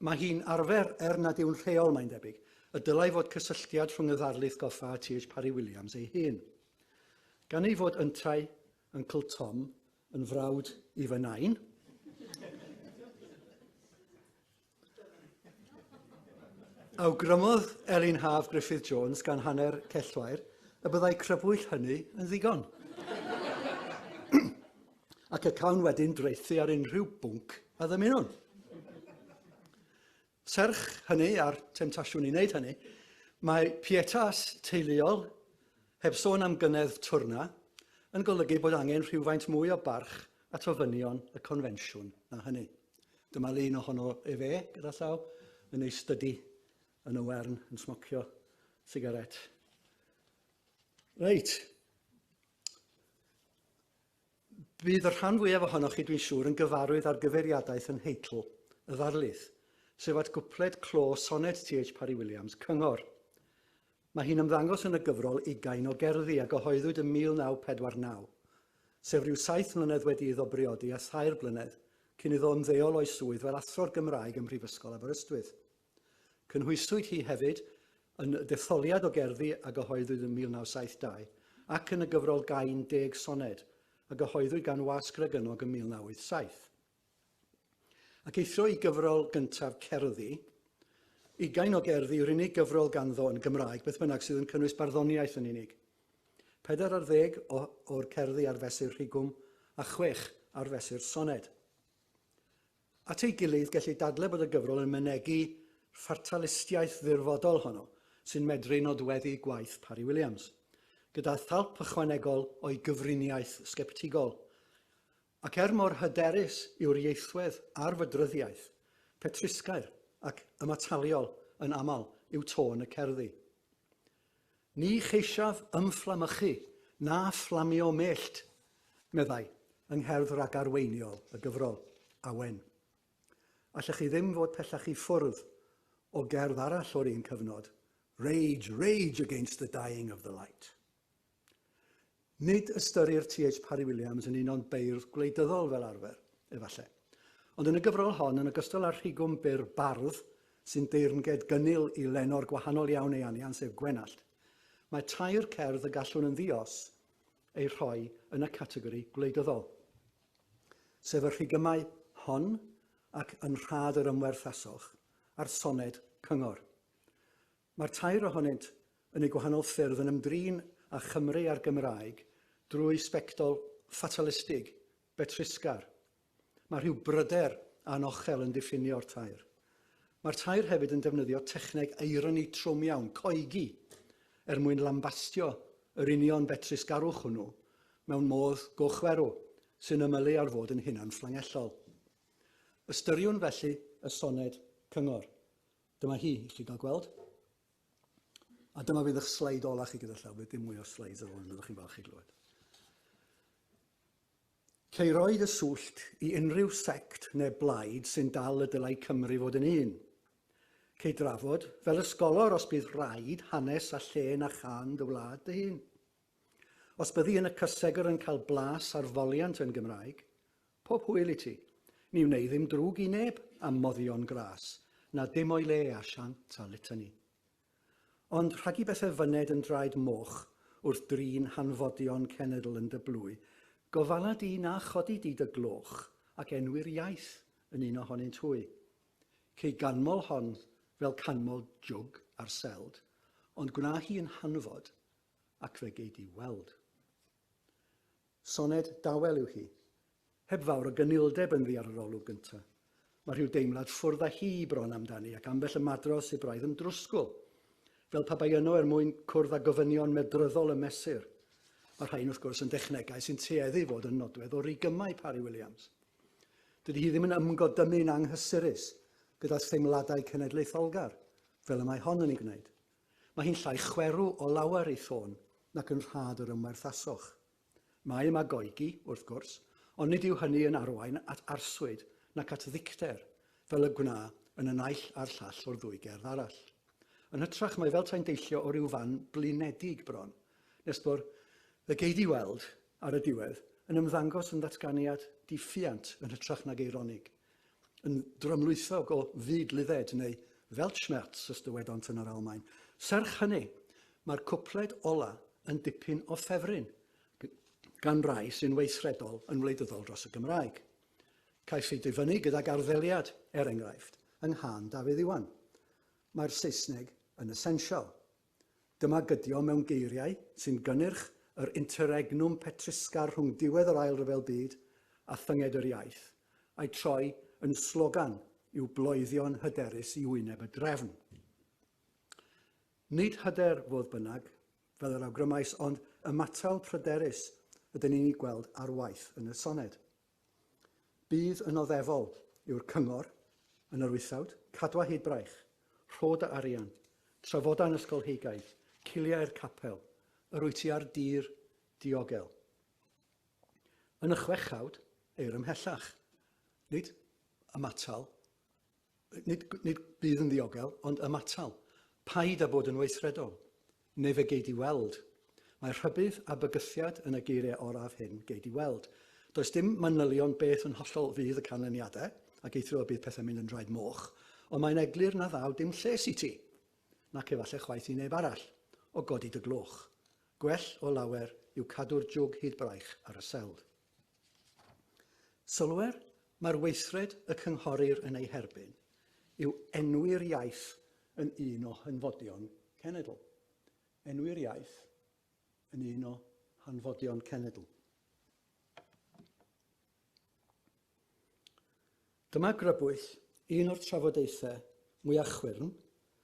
Mae hi'n arfer, er nad yw'n rheol mae'n debyg, y dylai fod cysylltiad rhwng y ddarlith goffa a TH Parry Williams ei hun. Gan ei fod yntau, Uncle Tom, yn frawd i fy nain, Awgrymodd Elin Haf Griffith Jones gan hanner cellwair y byddai crybwyll hynny yn ddigon. ac y cawn wedyn dreithi ar unrhyw bwnc a ddymunwn. Serch hynny a'r temtasiwn i wneud hynny, mae pietas teuluol, heb sôn am gynedd twrna, yn golygu bod angen rhywfaint mwy o barch at ofynion y confensiwn na hynny. Dyma lun ohono efe gyda llaw yn ei stydi yn y wern yn smocio sigaret. Reit. Bydd y rhan fwyaf ohonoch chi, dwi'n siŵr, yn gyfarwydd â'r gyfeiriadaeth yn nheitl y ddarlith, sef at gwpled clo soned TH Parry Williams, Cyngor. Mae hi'n ymddangos yn y gyfrol Ugain o Gerddi a gyhoeddwyd ym 1949, sef rhyw saith mlynedd wedi iddo briodi a thair blynedd cyn iddo ymddeol o'i swydd fel Athro'r Gymraeg ym Mhrifysgol Aberystwyth. Cynhwyswyd hi hefyd yn y detholiad o gerddi a gyhoeddwyd yn 1972 ac yn y gyfrol Gain Deg Soned a gyhoeddwyd gan Wasg Ragynnog yn 1987. Ac eithrio i gyfrol gyntaf cerddi, ugain o gerddi yw'r unig gyfrol ganddo yn Gymraeg, beth bynnag, sydd yn cynnwys barddoniaeth yn unig. Pedair ar ddeg o'r cerddi ar fesur rhigwm a chwech ar fesur soned. At ei gilydd, gellid dadlau bod y gyfrol yn mynegi fatalistiaeth ddirfodol honno sy'n medru nodweddu gwaith Parry Williams, gyda thalp ychwanegol o'i gyfriniaeth sgeptigol. Ac er mor hyderus yw'r ieithwedd ar fydryddiaeth, petrusgair ac ymataliol yn aml yw tôn y cerddi. Ni cheisiaf ymfflamychu na fflamio mellt, meddai, yng ngherdd ragarweiniol y gyfrol, Awen. Allech chi ddim fod pellach i ffwrdd o gerdd arall o'r un cyfnod, Rage, rage against the dying of the light. Nid ystyrir TH Parry Williams yn un o'n beirdd gwleidyddol fel arfer, efallai. Ond yn y gyfrol hon, yn ogystal â'r rhigwm byr bardd sy'n deyrnged gynnil i lenor gwahanol iawn ei anian sef Gwenallt, mae tair cerdd y gallwn yn ddi-os eu rhoi yn y categori gwleidyddol, sef y rhigymau hon ac Yn Rhad yr Ymwerth Asoch a'r soned Cyngor. Mae'r tair ohonynt yn eu gwahanol ffyrdd yn ymdrin â Chymru a'r Gymraeg drwy sbectol ffatalastig, betrusgar. Mae rhyw bryder anochel yn diffinio'r tair. Mae'r tair hefyd yn defnyddio techneg eironi trwm iawn, coegi, er mwyn lambastio yr union betrusgarwch hwnnw mewn modd gochwerw sy'n ymylu ar fod yn hunanfflangellol. Ystyriwn felly y soned cyngor. Dyma hi, i chi gael gweld. A dyma fydd eich sleid ola chi gyda llaw, bydd dim mwy o sleids ar ôl yn ydych chi'n falch i glywed. Ceiroi dy swllt i unrhyw sect neu blaid sy'n dal y dylai Cymru fod yn un. Cei drafod, fel ysgolor os bydd rhaid, hanes a lle na chan dy wlad dy hun. Os byddi yn y cysegr yn cael blas ar foliant yn Gymraeg, pob hwyl i ti. Ni wnei ddim drwg i neb am moddion gras, na dim o'i le a siant a litany. Ond rhag i bethe fyned yn draed moch wrth drin hanfodion cenedl yn dy blwy, gofala di na chodi di dy gloch ac enwi'r iaith yn un ohonynt hwy. Cei ganmol hon fel canmol jwg ar seld, ond gwna hi yn hanfod ac fe gei di weld. Soned dawel yw hi, heb fawr o gynildeb yn ddi ar yr olwg gyntaf. Mae rhyw deimlad ffwrdd â hi bron amdani ac ambell ymadro sydd braidd yn drwsgwl, fel pa bai yno er mwyn cwrdd â gofynion medryddol y mesur. Mae rhain wrth gwrs yn dechnegau sy'n tueddu fod yn nodwedd o rigymau Parry Williams. Dydy hi ddim yn ymgodymu'n anghysurus gyda theimladau cenedlaetholgar, fel y mae hon yn ei gwneud, Mae hi'n llai chwerw o lawer ei thôn nac yn rhad yr ymwerthasoch. Mae yma goegi, wrth gwrs, ond nid yw hynny yn arwain at arswyd nac at ddicter, fel y gwna yn y naill a'r llall o'r ddwy gerdd arall. Yn hytrach, mae fel tai'n deillio o ryw fan blinedig bron, nes bo'r Y gei di weld, ar y diwedd, yn ymddangos yn ddatganiad di-ffiant yn hytrach nag eironig, yn drymlwythog o fyd Lydded neu Weltschmerz os dywedont yn yr Almaen. Serch hynny, mae'r cwpled ola yn dipyn o ffefryn gan rai sy'n weithredol yn wleidyddol dros y Gymraeg. Caiff ei difynnu gydag arddeliad, er enghraifft, yng nghân Dafydd Iwan. Mae'r Saesneg yn essential, Dyma gydio mewn geiriau sy'n gynnyrch yr interregnum petruscar rhwng diwedd yr Ail Ryfel Byd a thynged yr iaith, a'i troi yn slogan i'w bloeddion hyderus i wyneb y drefn. Nid hyder, fodd bynnag, fel yr awgrymais, ond ymatal pryderus ydyn ni'n ei gweld ar waith yn y soned. Bydd yn oddefol i'r Cyngor, yn yr wythfawd, cadw â hyd braich, rhod a arian, trafodau'n ysgolheigaidd, ciliau'r capel, yr wyt ti a'r dir diogel. Yn y chwechawd, eir ymhellach, nid ymatal nid, nid bydd yn ddiogel, ond ymatal. Paid â bod yn weithredol, neu fe gei di weld. Mae rhybudd a bygythiad yn y geiriau oraf hyn gei di weld. Does dim manylion beth yn hollol fydd y canlyniadau, ac eithrio y bydd pethau'n mynd yn draed moch, ond mae'n eglur na ddaw dim lles i ti, nac efallai chwaith i neb arall, o godi dy gloch. Gwell o lawer yw cadw'r jwg hyd braich ar y seld. Sylwer, mae'r weithred y cynghorir yn ei herbyn yw enwi'r iaith yn un o hanfodion cenedl. Enwi'r iaith yn un o hanfodion cenedl. Dyma grybwyll un o'r trafodaethau mwyaf chwyrn,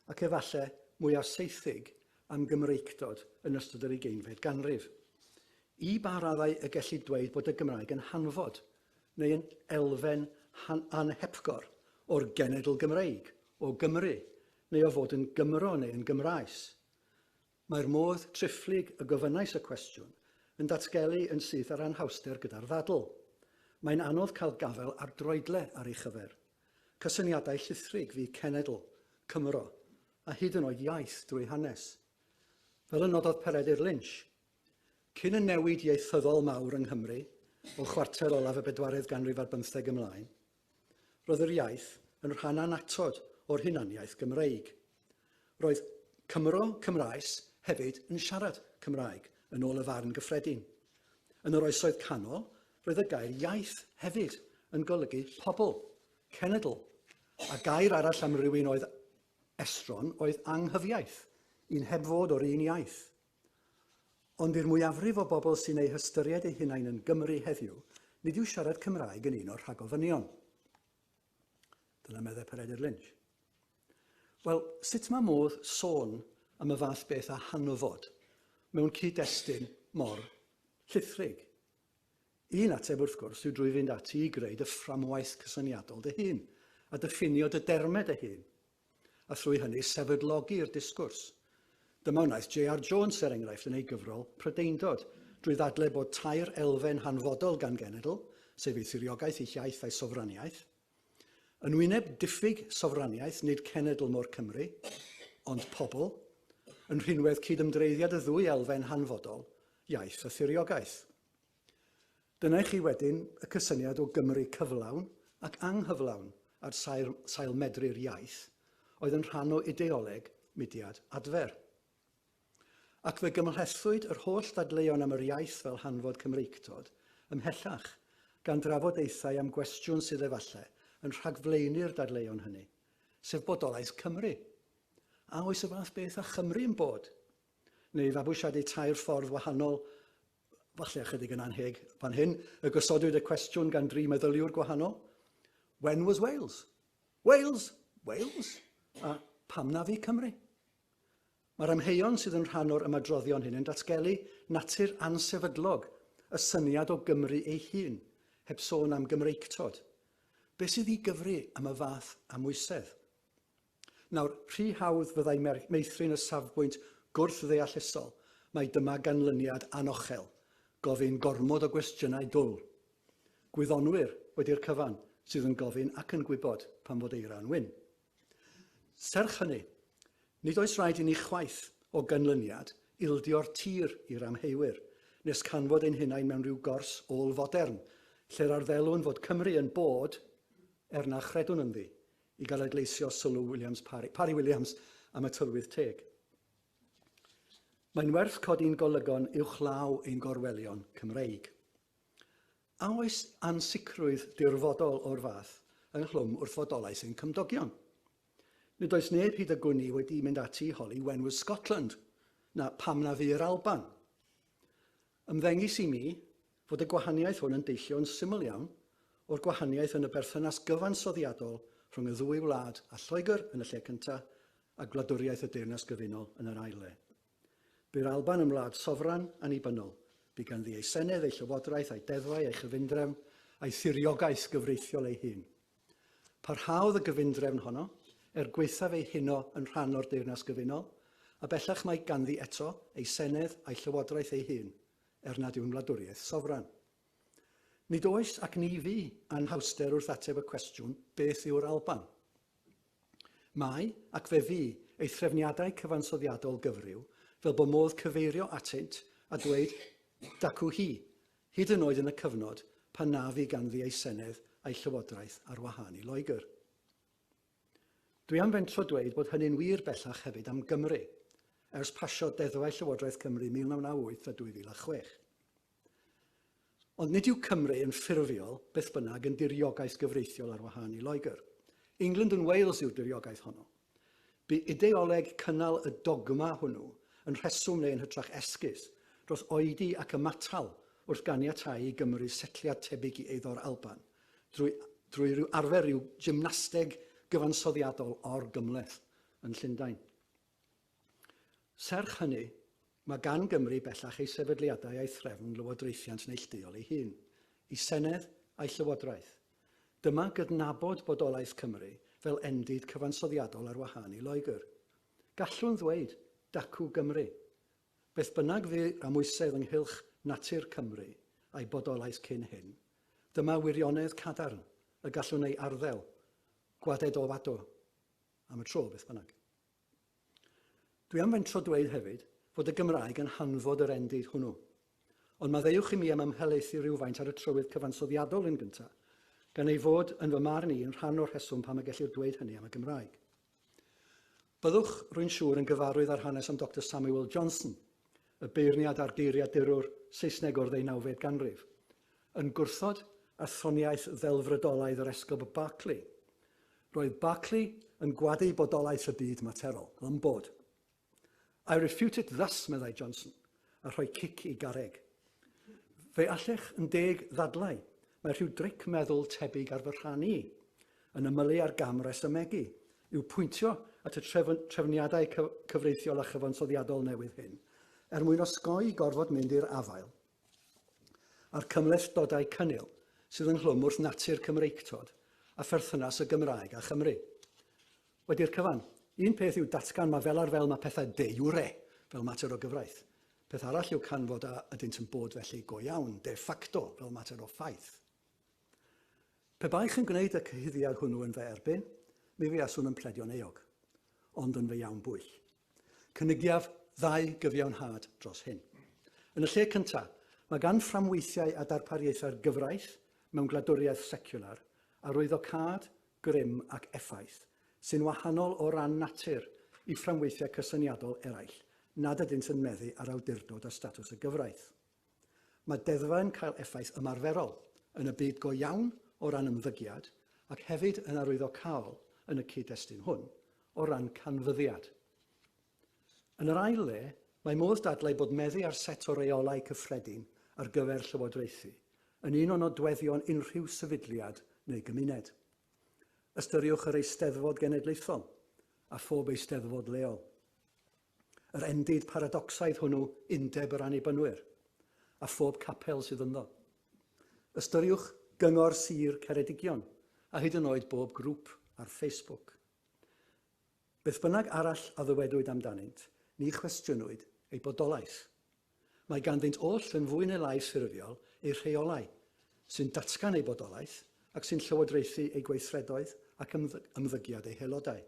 ac efallai mwyaf saethig, am Gymreictod yn ystod yr ugeinfed ganrif. I ba raddau y gellid dweud bod y Gymraeg yn hanfod, neu yn elfen anhepgor, o'r genedl Gymreig, o Gymru, neu o fod yn Gymro neu yn Gymraes? Mae'r modd triphlyg y gofynnais y cwestiwn yn datgelu yn syth yr anhawster gyda'r ddadl. Mae'n anodd cael gafael ar droedle ar ei chyfer. Cysyniadau llithrig fu cenedl, Cymro, a hyd yn oed iaith drwy hanes. Fel y nododd Peredur Lynch, Cyn y newid ieithyddol mawr yng Nghymru, o chwarter olaf y bedwaredd ganrif ar bymtheg ymlaen, Roedd yr iaith yn rhan annatod o'r hunaniaeth Gymreig. Roedd Cymro, Cymraes, hefyd yn siarad Cymraeg, yn ôl y farn gyffredin. Yn yr Oesoedd Canol, roedd y gair iaith hefyd yn golygu pobl, cenedl, a gair arall am rywun oedd estron oedd anghyfiaith, un heb fod o'r un iaith. Ond i'r mwyafrif o bobl sy'n eu hystyried eu hunain yn Gymry heddiw, nid yw siarad Cymraeg yn un o'r rhagofynion. Dyna meddai Peredur Lynch. Wel, sut mae modd sôn am y fath beth â hanfod mewn cyd-destun mor llithrig? Un ateb, wrth gwrs, yw drwy fynd ati i greu dy fframwaith cysyniadol dy hun, a diffinio dy dermed dy hun, a thrwy hynny sefydlogi'r disgwrs. Dyma wnaeth JR Jones, er enghraifft, yn ei gyfrol Prydeindod, drwy ddadle bod tair elfen hanfodol gan genedl, sef ei thiriogaeth, ei hiaith a'i sofraniaeth. Yn wyneb diffyg sofraniaeth, nid cenedl mo'r Cymry, ond pobl, yn rhinwedd cydymdreiddiad y ddwy elfen hanfodol, iaith a thiriogaeth. Dyna i chi wedyn y cysyniad o Gymru cyflawn ac anghyflawn ar sail, sail medru'r iaith, oedd yn rhan o ideoleg mudiad adfer. Ac fe gymhlethdwyd yr holl ddadleuon am yr iaith fel hanfod Cymreictod ymhellach, gan drafodaethau am gwestiwn sydd efallai yn rhagflaenu'r dadleuon hynny, sef bodolaeth Cymru. A oes y fath beth â Chymru yn bod? neu fabwysiadu tair ffordd wahanol, falle ychydig yn anheg fan hyn, y gosodwyd y cwestiwn gan dri meddyliwr gwahanol, when was Wales? Wales! Wales! A pam na fi Cymru? Mae'r amheuon sydd yn rhan o'r ymadroddion hyn yn datgelu natur ansefydlog y syniad o Gymru ei hun, heb sôn am Gymreictod. Be sydd i gyfri am y fath amwysedd? Nawr, rhy hawdd fyddai meithrin y safbwynt gwrth-ddeallusol mai dyma ganlyniad anochel, gofyn gormod o gwestiynau dwl. Gwyddonwyr, wedi'r cyfan, sydd yn gofyn ac yn gwybod pam fod eira yn wyn. Serch hynny, nid oes rhaid i ni chwaith, o ganlyniad, ildio'r tir i'r amheuwyr, nes canfod ein hunain mewn rhyw gors ôl-fodern, lle'r arddeliwn fod Cymru yn bod, er na chredwn ynddi, i gael adleisio sylw Williams Parry, Parry Williams am y tylwyth teg. Mae'n werth codi'n golygon uwchlaw ein gorwelion Cymreig. A oes ansicrwydd dirfodol o'r fath ynghlwm wrth fodolaeth ein cymdogion? Nid oes neb hyd y gwni wedi mynd ati i holi wenwys Scotland, na pam na fu'r Alban. Ymddengys i mi, fod y gwahaniaeth hwn yn deillio yn syml iawn o'r gwahaniaeth yn y berthynas gyfansoddiadol rhwng y ddwy wlad a Lloegr yn y lle cyntaf a gwladwriaeth y Deyrnas Gyfunol yn yr ail le. Bu'r Alban yn wlad sofran, annibynnol. Bu ganddi ei senedd, ei llywodraeth, ei deddfau, ei chyfundrefn, a'i thiriogaeth gyfreithiol ei hun. Parhaodd y gyfundrefn honno, er gwaethaf ei huno yn rhan o'r Deyrnas Gyfunol, a bellach mae ganddi eto ei senedd a'i llywodraeth ei hun, er nad yw'n wladwriaeth sofran. Nid oes, ac ni fu, anhawster wrth ateb y cwestiwn beth yw'r Alban. Mae, ac fe fu, ei threfniadau cyfansoddiadol gyfryw, fel bo modd cyfeirio atynt a dweud dacw hi, hyd yn oed yn y cyfnod pan na fu ganddi ei senedd a'i llywodraeth ar wahân i Loegr. Dwi am fentro dweud bod hynny'n wir bellach hefyd am Gymru, ers pasio deddfau Llywodraeth Cymru 1998 a 2006. Ond nid yw Cymru yn ffurfiol, beth bynnag, yn diriogaeth gyfreithiol ar wahân i Loegr. England and Wales yw'r diriogaeth honno. Bu ideoleg cynnal y dogma hwnnw yn rheswm neu yn hytrach esgus dros oedi ac ymatal wrth ganiatáu i Gymru setliad tebyg i eiddo'r Alban drwy drwy ryw arfer, ryw gymnasteg gyfansoddiadol or-gymhleth yn Llundain. Serch hynny, mae gan Gymru bellach ei sefydliadau a'i threfn lywodraethiant neillduol ei hun, ei Senedd a'i Llywodraeth. Dyma gydnabod bodolaeth Cymru fel endid cyfansoddiadol ar wahân i Loegr. Gallwn ddweud, Dacw Gymru! Beth bynnag fu a moesedd ynghylch natur Cymru a'i bodolaeth cyn hyn, dyma wirionedd cadarn y gallwn ei arddel, gwadedowaddo, am y tro, beth bynnag. Dwi am fentro dweud hefyd fod y Gymraeg yn hanfod yr endid hwnnw. Ond maddeuwch i mi am ymhelaethu rywfaint ar y trywydd cyfansoddiadol yn gyntaf, gan ei fod, yn fy marn i, yn rhan o'r rheswm pam y gellir dweud hynny am y Gymraeg. Byddwch, rwy'n siŵr, yn gyfarwydd â'r hanes am Doctor Samuel Johnson, y beirniad a'r geiriadurwr Saesneg o'r ddeunawfed ganrif, yn gwrthod athroniaeth ddelfrydolaidd yr Esgob Berkeley. Roedd Berkeley yn gwadu bodolaeth y byd materol, ym bod. I refute it thus, meddai Johnson, a rhoi cic i garreg. Fe allech yn deg ddadlau, mae rhyw dric meddwl tebyg ar fy rhan i, yn ymylu ar gam resymegu, yw pwyntio at y trefn trefniadau cyfreithiol a chyfansoddiadol newydd hyn, er mwyn osgoi gorfod mynd i'r afael a'r cymhlethdodau cynnil sydd ynghlwm wrth natur Cymreictod a pherthynas y Gymraeg â Chymru. Wedi'r cyfan. Un peth yw datgan ma fel ar fel ma pethau de jure, fel mater o gyfraith. Peth arall yw canfod a ydynt yn bod felly go iawn, de facto, fel mater o ffaith. Pe baech yn gwneud y cyhuddiad hwnnw yn fy erbyn, mi fuaswn yn pledio'n euog. Ond yn fy iawn bwyll. Cynigiaf ddau gyfiawnhad dros hyn. Yn y lle cynta, mae gan fframweithiau a darpariaethau'r gyfraith mewn gwladwriaeth seciwlar arwyddocâd grym ac effaith, sy'n wahanol o ran natur i fframweithiau cysyniadol eraill nad ydynt yn meddu ar awdurdod a statws y gyfraith. Mae deddfau yn cael effaith ymarferol, yn y byd go iawn, o ran ymddygiad, ac hefyd yn arwyddocaol, yn y cyd-destun hwn, o ran canfyddiad. Yn yr ail le, mae modd dadlau bod meddu ar set o reolau cyffredin ar gyfer llywodraethu yn un o nodweddion unrhyw sefydliad neu gymuned. Ystyriwch yr Eisteddfod Genedlaethol a phob Eisteddfod leol. Yr endid paradocsaidd hwnnw Undeb yr Annibynwyr a phob capel sydd ynddo. Ystyriwch Gyngor Sir Ceredigion a hyd yn oed bob grŵp ar Facebook. Beth bynnag arall a ddywedwyd amdanynt, ni chwestiynwyd eu bodolaeth. Mae ganddynt oll yn fwy neu lai ffurfiol eu rheolau, sy'n datgan eu bodolaeth ac sy'n llywodraethu eu gweithredoedd ac ymddygiad eu haelodau.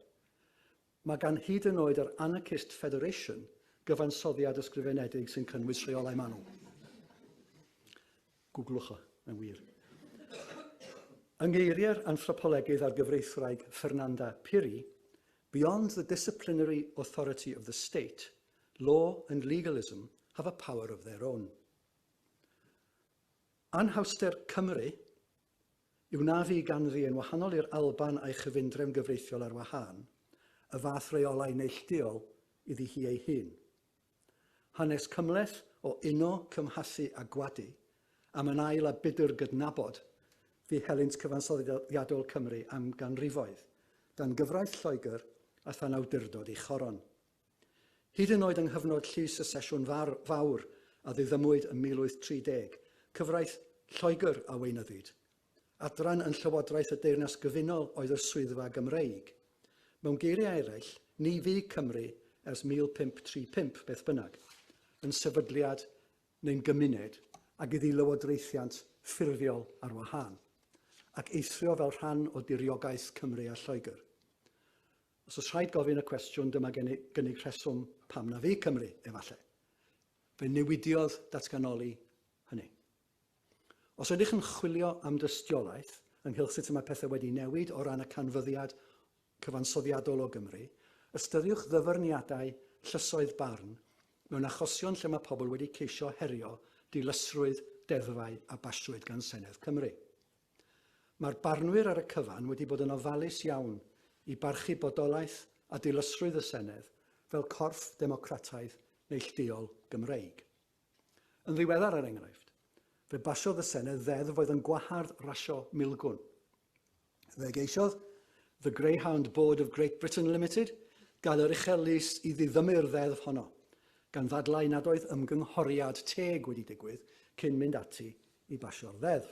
Mae gan hyd yn oed yr Anarchist Federation gyfansoddiad ysgrifenedig sy'n cynnwys rheolau manwl. Googlwch o, mae'n wir. Yng ngeiriau'r anthropolegydd a'r gyfreithwraig Fernanda Piri, Beyond the disciplinary authority of the state, law and legalism have a power of their own. Anhawster Cymru yw na fi ganddi yn wahanol i'r Alban a'i chyfundrefn gyfreithiol ar wahân, y fath reolau neillduol iddi hi ei hun. Hanes cymhleth o uno, cymhasu a gwadu, am yn ail a budr gydnabod fu helynt cyfansoddiadol Cymru am ganrifoedd, dan gyfraith Lloegr a than awdurdod ei choron. Hyd yn oed yng nghyfnod llys y Sesiwn Fawr a ddiddymwyd ym 1830, cyfraith Lloegr a weinyddid, Adran yn Llywodraeth y Deyrnas Gyfunol oedd y Swyddfa Gymreig. Mewn geiriau eraill, ni fu Cymru ers 1535, beth bynnag, yn sefydliad neu'n gymuned ag iddi lywodraethiant ffurfiol ar wahân, ac eithrio fel rhan o diriogaeth Cymru a Lloegr. Os oes rhaid gofyn y cwestiwn, dyma gynnig rheswm pam na fu Cymru, efallai. Fe newidiodd datganoli hynny. Os ydych yn chwilio am dystiolaeth ynghylch sut y mae pethau wedi newid o ran y canfyddiad cyfansoddiadol o Gymru, ystyriwch ddyfyrniadau llysoedd barn mewn achosion lle mae pobl wedi ceisio herio dilysrwydd deddfau a basiwyd gan Senedd Cymru. Mae'r barnwyr ar y cyfan wedi bod yn ofalus iawn i barchu bodolaeth a dilysrwydd y Senedd fel corff democrataidd neillduol Gymreig. Yn ddiweddar, er enghraifft, fe basiodd y Senedd ddeddf oedd yn gwahardd rasio milgwn. Fe geisiodd The Greyhound Board of Great Britain Limited gael yr uchel lys i ddiddymu'r ddeddf honno, gan ddadlau nad oedd ymgynghoriad teg wedi digwydd cyn mynd ati i basio'r ddeddf.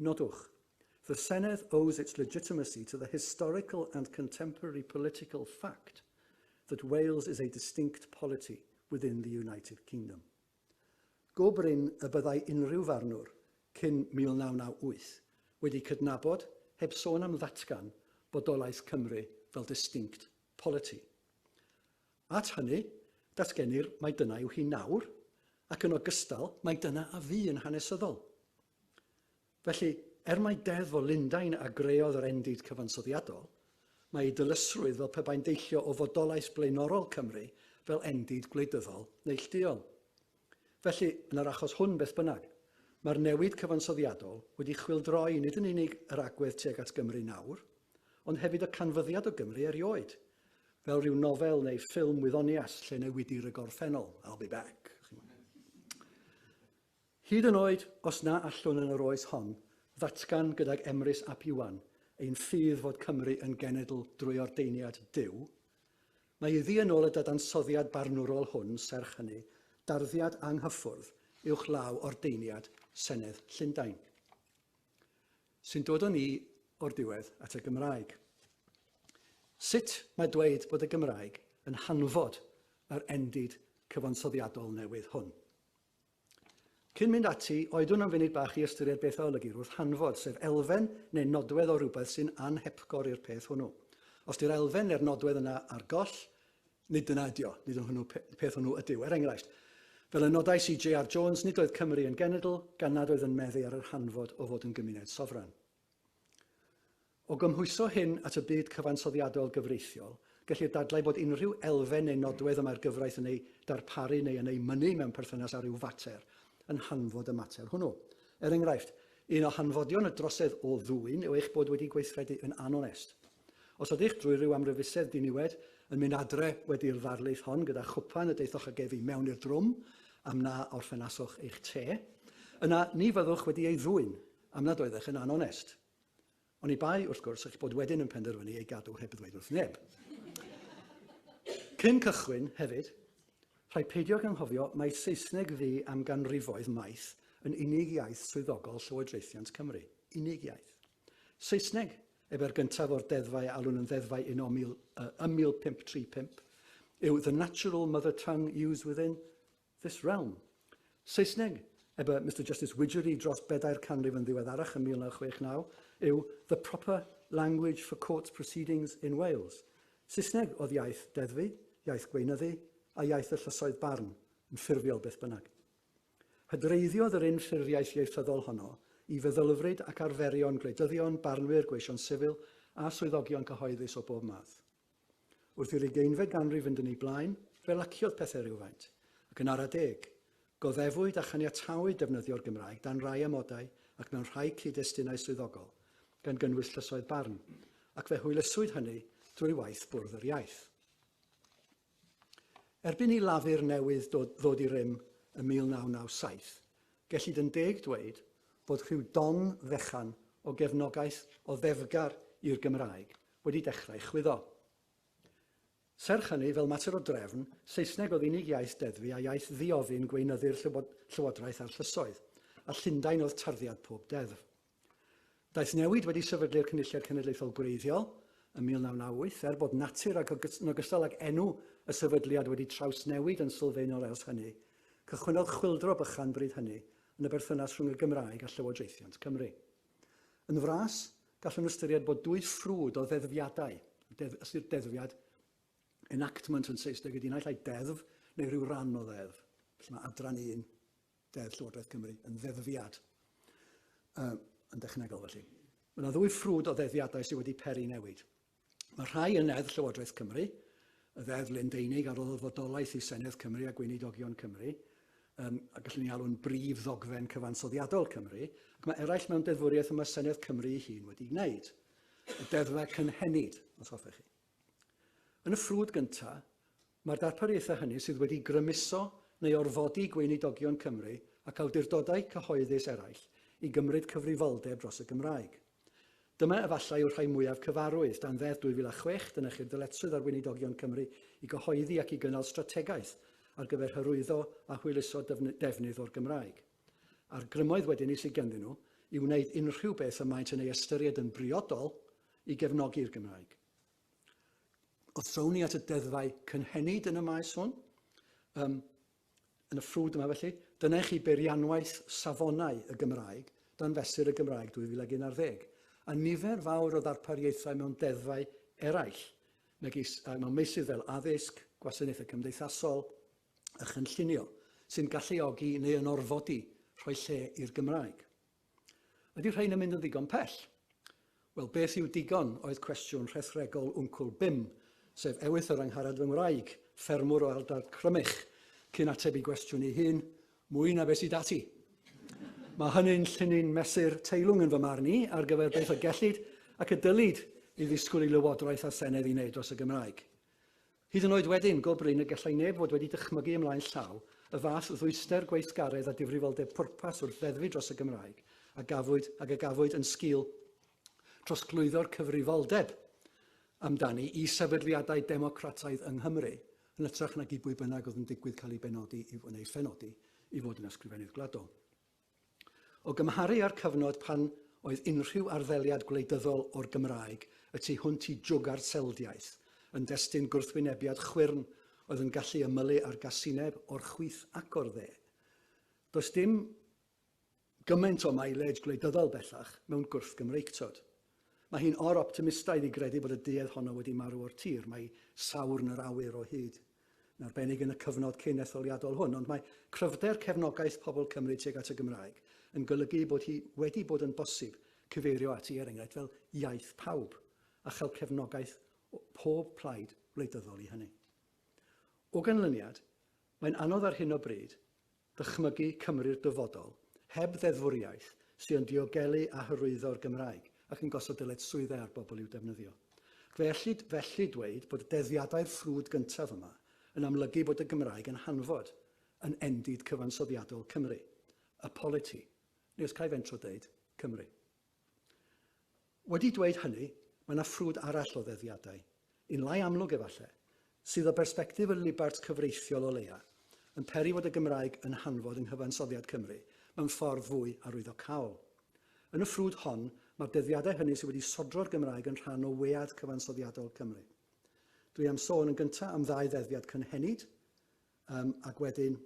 Nodwch, The Senedd owes its legitimacy to the historical and contemporary political fact that Wales is a distinct polity within the United Kingdom. Go brin y byddai unrhyw farnwr cyn 1998 wedi cydnabod, heb sôn am ddatgan, bodolaeth Cymru fel distinct polity. At hynny, datgenir mai dyna yw hi nawr, ac yn ogystal, mai dyna a fu yn hanesyddol. Felly, er mai Deddf o Lundain a greodd yr endid cyfansoddiadol, mae ei dylysrwydd fel pe bai'n deillio o fodolaeth blaenorol Cymru fel endid gwleidyddol neillduol. Felly, yn yr achos hwn beth bynnag, mae'r newid cyfansoddiadol wedi chwyldroi nid yn unig yr agwedd tuag at Gymru nawr, ond hefyd y canfyddiad o Gymru erioed, fel rhyw nofel neu ffilm wyddonias lle newidir y gorffennol, I'll be back. Hyd yn oed os na allwn yn yr oes hon ddatgan gydag Emrys ap Iwan ein ffydd fod Cymru yn genedl drwy ordeiniad Duw, mae iddi yn ôl y dadansoddiad barnwrol hwn serch hynny darddiad anghyffwrdd uwchlaw ordeiniad Senedd Llundain. Sy'n dod o ni o'r diwedd at y Gymraeg. Sut mae dweud bod y Gymraeg yn hanfod yr endid cyfansoddiadol newydd hwn? Cyn mynd ati, oedwn am funud bach i ystyried beth a olygir wrth hanfod, sef elfen neu nodwedd o rywbeth sy'n anhepgor i'r peth hwnnw. Os di'r elfen neu'r nodwedd yna ar goll, nid dyna ydi o, nid yn hwnnw peth hwnnw ydyw. Er enghraifft, fel y nodai CJR Jones, nid oedd Cymru yn genedl gan nad oedd yn meddu ar yr hanfod o fod yn gymuned sofran. O gymhwyso hyn at y byd cyfansoddiadol gyfreithiol, gellir dadlau bod unrhyw elfen neu nodwedd y mae'r gyfraith yn ei darparu neu yn ei mynnu mewn perthynas â rhyw fater, yn hanfod y mater hwnnw. Er enghraifft, un o hanfodion y drosedd o ddwyn yw eich bod wedi gweithredu yn anonest. Os ydych, drwy ryw amryfusedd diniwed, yn mynd adre wedi'r ddarlith hon gyda chwpan y daethoch ag ef i mewn i'r drwm am na orffenaswch eich te, yna ni fyddwch wedi ei ddwyn, am nad oeddech yn anonest. Oni bai, wrth gwrs, eich bod wedyn yn penderfynu ei gadw heb ddweud wrth neb. Cyn cychwyn, hefyd, rhaid peidio ag anghofio mai Saesneg fu am ganrifoedd maith yn unig iaith swyddogol Llywodraethiant Cymru. Unig iaith. Saesneg, ebe'r gyntaf o'r deddfau a alwn yn ddeddfau un o mil, uh, ym 1535, yw the natural mother tongue used within This Realm. Saesneg, eb y Mister Justice Widgery dros bedair canrif yn ddiweddarach yn 1969, yw The Proper Language for Courts Proceedings in Wales. Saesneg oedd iaith deddfu, iaith gweinyddu, a iaith y llysoedd barn, yn ffurfiol beth bynnag. Hydreiddiodd yr unffurfiaeth ieithyddol honno i feddylfryd ac arferion gwleidyddion, barnwyr, gweision sifil, a swyddogion cyhoeddus o bob math. Wrth i'r ugeinfed ganrif fynd yn ei blaen, fe laciodd pethau rywfaint, ac yn ara deg, goddefwyd a chaniatawyd defnyddio'r Gymraeg dan rai amodau ac mewn rhai cyd-destunau swyddogol, gan gynnwys llysoedd barn, ac fe hwyluswyd hynny drwy waith Bwrdd yr Iaith. Erbyn i Lafur newydd ddod i rym ym 1997, gellid yn deg dweud bod rhyw don fechan o gefnogaeth o ddefgar i'r Gymraeg wedi dechrau chwyddo. Serch hynny, fel mater o drefn, Saesneg oedd unig iaith deddfu a iaith ddi-ofyn gweinyddu'r llywodraeth a'r llysoedd, a Llundain oedd tarddiad pob deddf. Daeth newid wedi sefydlu'r Cynulliad Cenedlaethol gwreiddiol ym 1998, er bod natur ac yn ogystal ag enw y sefydliad wedi trawsnewid yn sylfaenol ers hynny, cychwynnodd chwyldro bychan bryd hynny yn y berthynas rhwng y Gymraeg a llywodraethiant Cymru. Yn fras, gallwn ystyried bod dwy ffrwd o ddeddfiadau, deddf, ystyr deddfiad, enactment yn Saesneg ydy naill ai deddf neu rhyw ran o ddeddf. Felly mae adran un deddf Llywodraeth Cymru yn ddeddfiad uh, yn dechnegol felly. Mae yna ddwy ffrwd o ddeddiadau sydd wedi peri newid. Mae rhai yn Neddf Llywodraeth Cymru, y Ddeddf Lundeinig a roddodd fodolaeth i Senedd Cymru a Gweinidogion Cymru, um, a gallwn ni alw'n brif ddogfen cyfansoddiadol Cymru, ac mae eraill mewn deddfwriaeth y mae Senedd Cymru ei hun wedi'i wneud. Y deddfau cynhenid, os hoffech chi. Yn y ffrwd gyntaf, mae'r darpariaethau hynny sydd wedi grymuso neu orfodi gweinidogion Cymru ac awdurdodau cyhoeddus eraill i gymryd cyfrifoldeb dros y Gymraeg. Dyma efallai yw'r rhai mwyaf cyfarwydd. Dan Ddeddf 2006, dynychir dyletswydd ar Weinidogion Cymru i gyhoeddi ac i gynnal strategaeth ar gyfer hyrwyddo a hwyluso defnydd o'r Gymraeg. A'r grymoedd wedyn 'ny sydd ganddyn nhw i wneud unrhyw beth y maent yn ei ystyried yn briodol i gefnogi'r Gymraeg. Os trown ni at y deddfau cynhenid yn y maes hwn, ym Yn y ffrwd yma felly, dyna i chi beirianwaith safonau y Gymraeg dan Fesur y Gymraeg 2011, a nifer fawr o ddarpariaethau mewn deddfau eraill, megis mewn meysydd fel addysg, gwasanaethau cymdeithasol a chynllunio, sy'n galluogi neu yn orfodi rhoi lle i'r Gymraeg. Ydy rhain yn mynd yn ddigon pell? Wel, beth yw digon oedd cwestiwn rhethregol wncwl Bim, sef Ewythr yr Angharad fy ngwraig, ffermwr o ardal Crymych, cyn ateb i gwestiwn ei hun, mwy na be sydd 'da ti. Mae hynny'n llinyn mesur teilwng yn fy marn i ar gyfer beth y gellid ac y dylid i ddisgwyl i Lywodraeth a Senedd i wneud dros y Gymraeg. Hyd yn oed wedyn, go brin y gallai neb fod wedi dychmygu ymlaen llaw y fath ddwyster gweithgaredd a difrifoldeb pwrpas wrth ddeddfu dros y Gymraeg a gafwyd ag a gafwyd yn sgil trosglwyddo'r cyfrifoldeb amdani i sefydliadau democrataidd yng Nghymru, yn hytrach nag i bwy bynnag oedd yn digwydd cael ei benodi i, neu ei phenodi i fod yn Ysgrifennydd Gwladol. O gymharu â'r cyfnod pan oedd unrhyw arddeliad gwleidyddol o'r Gymraeg y tu hwnt i jwgar selddiaeth yn destun gwrthwynebiad chwyrn oedd yn gallu ymylu ar gasineb o'r chwith ac o'r dde, does dim gymaint o mileage gwleidyddol bellach mewn gwrthgymreictod. Mae hi'n or-optimistaidd i gredu bod y duedd honno wedi marw o'r tir, mae Sawrn yr awyr o hyd. yn arbennig yn y cyfnod cyn etholiadol hwn, ond mae cryfder cefnogaeth pobl Cymru tuag at y Gymraeg yn golygu bod hi wedi bod yn bosib cyfeirio ati, er enghraifft, fel iaith pawb, a chael cefnogaeth o pob plaid wleidyddol i hynny. O ganlyniad, mae'n anodd ar hyn o bryd Dychmygu Cymru'r dyfodol, heb ddeddfwriaeth, sy' yn diogelu a hyrwyddo'r Gymraeg, ac yn gosod dyled swyddau ar bobl i'w defnyddio. Fe ellid felly dweud bod deddiadau'r ffrwd gyntaf yma yn amlygu bod y Gymraeg yn hanfod yn endid cyfansoddiadol Cymru, y politi, neu os ca i fentro deud, Cymru. Wedi dweud hynny, mae yna ffrwd arall o ddeddiadau, un lai amlwg efallai, sydd o bersbectif y libart cyfreithiol o leia, yn peri fod y Gymraeg yn hanfod yng nghyfansoddiad Cymru mewn ffordd fwy arwyddocaol. Yn y ffrwd hon, mae'r deddiadau hynny sydd wedi sodro'r Gymraeg yn rhan o wead cyfansoddiadol Cymru. Dwi am sôn yn gyntaf am ddau ddeddiad cynhenid, Um, ac wedyn,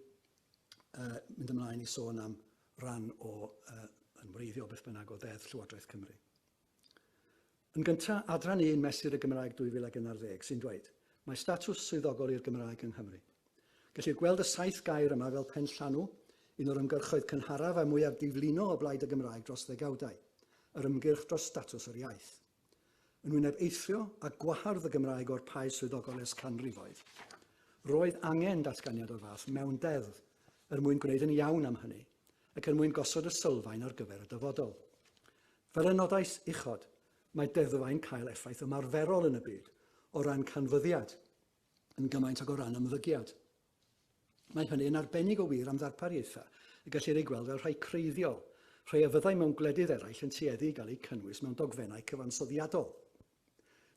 uh, mynd ymlaen i sôn am ran o uh, yn wreiddiol beth bynnag o ddeddf Llywodraeth Cymru. Yn gyntaf, adran 1 mesur y Gymraeg 2011 sy'n dweud, mae statws swyddogol i'r Gymraeg yng Nghymru. Gellir gweld y saith gair yma fel pen llanw, un o'r ymgyrchoedd cynharaf a mwyaf diflino o blaid y Gymraeg dros ddegawdau, yr ymgyrch dros statws yr iaith. Yn wyneb eithrio a gwahardd y Gymraeg o'r paes swyddogol ers canrifoedd, roedd angen datganiad o'r fath mewn deddf er mwyn gwneud yn iawn am hynny ac er mwyn gosod y sylfaen ar gyfer y dyfodol. Fel y nodais uchod, mae deddfau'n cael effaith ymarferol yn y byd o ran canfyddiad yn gymaint ag o ran ymddygiad. Mae hynny yn arbennig o wir am ddarpariaethau y gellir eu gweld fel rhai creiddiol, rhai a fyddai mewn gwledydd eraill yn tueddu i gael eu cynnwys mewn dogfennau cyfansoddiadol,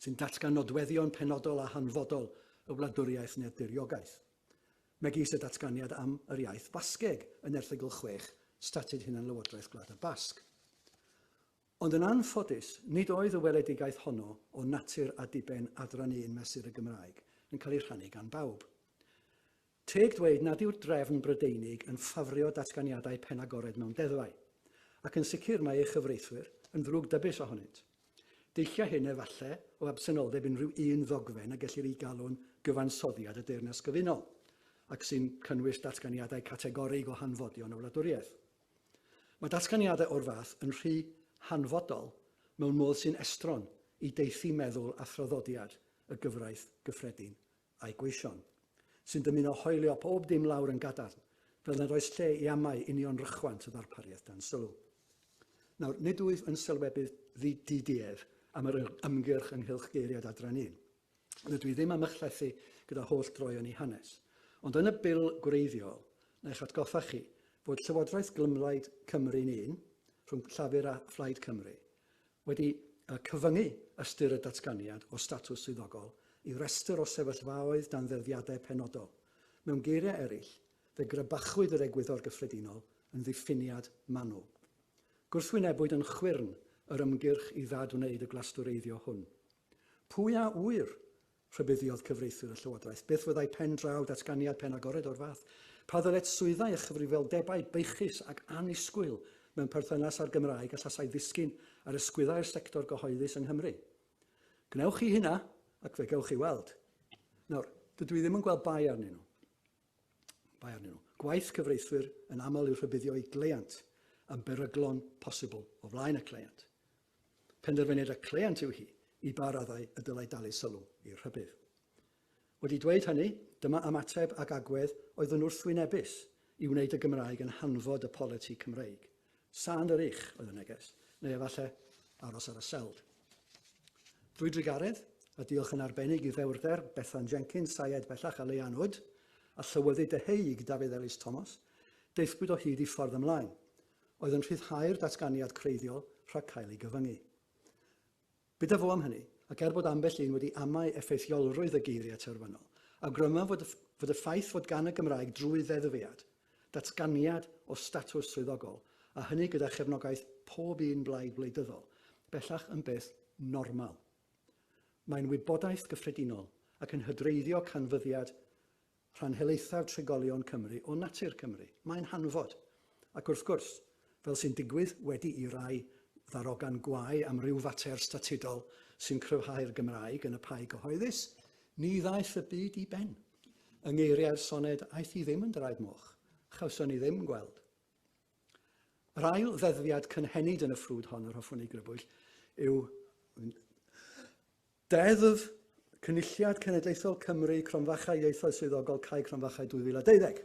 sy'n datgan nodweddion penodol a hanfodol y wladwriaeth neu'r diriogaeth, megis y datganiad am yr iaith Fasgeg yn erthygl 6 Statut Hunanlywodraeth Gwlad y Basg. Ond yn anffodus, nid oedd y weledigaeth honno o natur a diben adran un mesur y Gymraeg yn cael ei rhannu gan bawb. Teg dweud nad yw'r drefn Brydeinig yn ffafrio datganiadau penagored mewn deddfau, ac yn sicr mae ei chyfreithwyr yn ddrwg dybis ohonynt. Deillia hyn efalle o absenoldeb unrhyw un ddogfen y gellir ei galw'n gyfansoddiad y Deyrnas Gyfunol, ac sy'n cynnwys datganiadau categorig o hanfodion y wladwriaeth. Mae datganiadau o'r fath yn rhy hanfodol mewn modd sy'n estron i deithio meddwl a thraddodiad y gyfraith gyffredin a'i gweision, sy'n dymuno hoelio pob dim lawr yn gadarn, fel nad oes lle i amau union rychwant y ddarpariaeth dan sylw. Nawr, nid wyf yn sylwebydd ddi-duedd am yr ymgyrch ynghylch geiriad adran un, Rydw i ddim am ychlethu gyda holl droeon i hanes, ond yn y Bil gwreiddiol, na i'ch atgoffa chi, fod Llywodraeth Glymblaid Cymru'n un, rhwng Llafur a Phlaid Cymru, wedi cyfyngu ystyr y datganiad o statws swyddogol i restr o sefyllfaoedd dan ddeddfiadau penodol. Mewn geiriau eraill, fe grybachwyd yr egwyddor gyffredinol yn ddiffiniad manwl. Gwrthwynebwyd yn chwyrn yr ymgyrch i ddad-wneud y glastwreiddio hwn. Pwy a ŵyr? rhybuddiodd cyfreithwyr y llywodraeth. Beth fyddai pen draw datganiad penagored o'r fath? Pa ddyletswyddau swyddau a chyfrifoldebau beichus ac annisgwyl mewn perthynas â'r Gymraeg allasai ddisgyn ar ysgwyddau'r sector gyhoeddus yng Nghymru? Gwnewch chi hynna, ac fe gewch chi weld. Nawr, dydw i ddim yn gweld bai arnyn nhw. Bai arnyn nhw. Gwaith cyfreithwyr yn aml yw rhybuddio i gleiant yn beryglon posibl o flaen y cleiant. Penderfyniad y cleient yw hi i ba raddau y dylai dalu sylw i'r rhybudd. Wedi dweud hynny, dyma ymateb ag agwedd oedd yn wrthwynebus i wneud y Gymraeg yn hanfod y politi Cymreig. Sand yr ych oedd y neges, neu efallai aros ar y seld. Drwy drugaredd, a diolch yn arbennig i ddewrder Bethan Jenkins, Syed bellach a Leanne Wood, a llywyddid deheuig Dafydd Elis Tomos, daethpwyd o hyd i ffordd ymlaen, oedd yn rhyddhau'r datganiad creiddiol rhag cael ei gyfyngu. Bydda fo am hynny, ac er bod ambell un wedi amau effeithiolrwydd y geiriau terfynol, awgrymaf fod, fod y ffaith fod gan y Gymraeg drwy ddeddfiad, datganiad o statws swyddogol, a hynny gyda chefnogaeth pob un blaid wleidyddol, bellach yn beth normal. Mae'n wybodaeth gyffredinol ac yn hydreiddio canfyddiad rhan helaethaf trigolion Cymru o natur Cymru. Mae'n hanfod. Ac wrth gwrs, fel sy'n digwydd wedi i rai ddarogan gwae am ryw fater statudol sy'n cryfhau'r Gymraeg yn y pai gyhoeddus, ni ddaeth y byd i ben. Yng ngeiriau'r soned aeth hi ddim yn draed moch, chawson ni ddim gweld. Yr ail ddeddfiad cynhenid yn y ffrwd hon yr hoffwn ei grybwyll yw Deddf, Cynulliad Cenedlaethol Cymru, Cromfachau Ieithoedd Swyddogol, Cae Cromfachau 2012.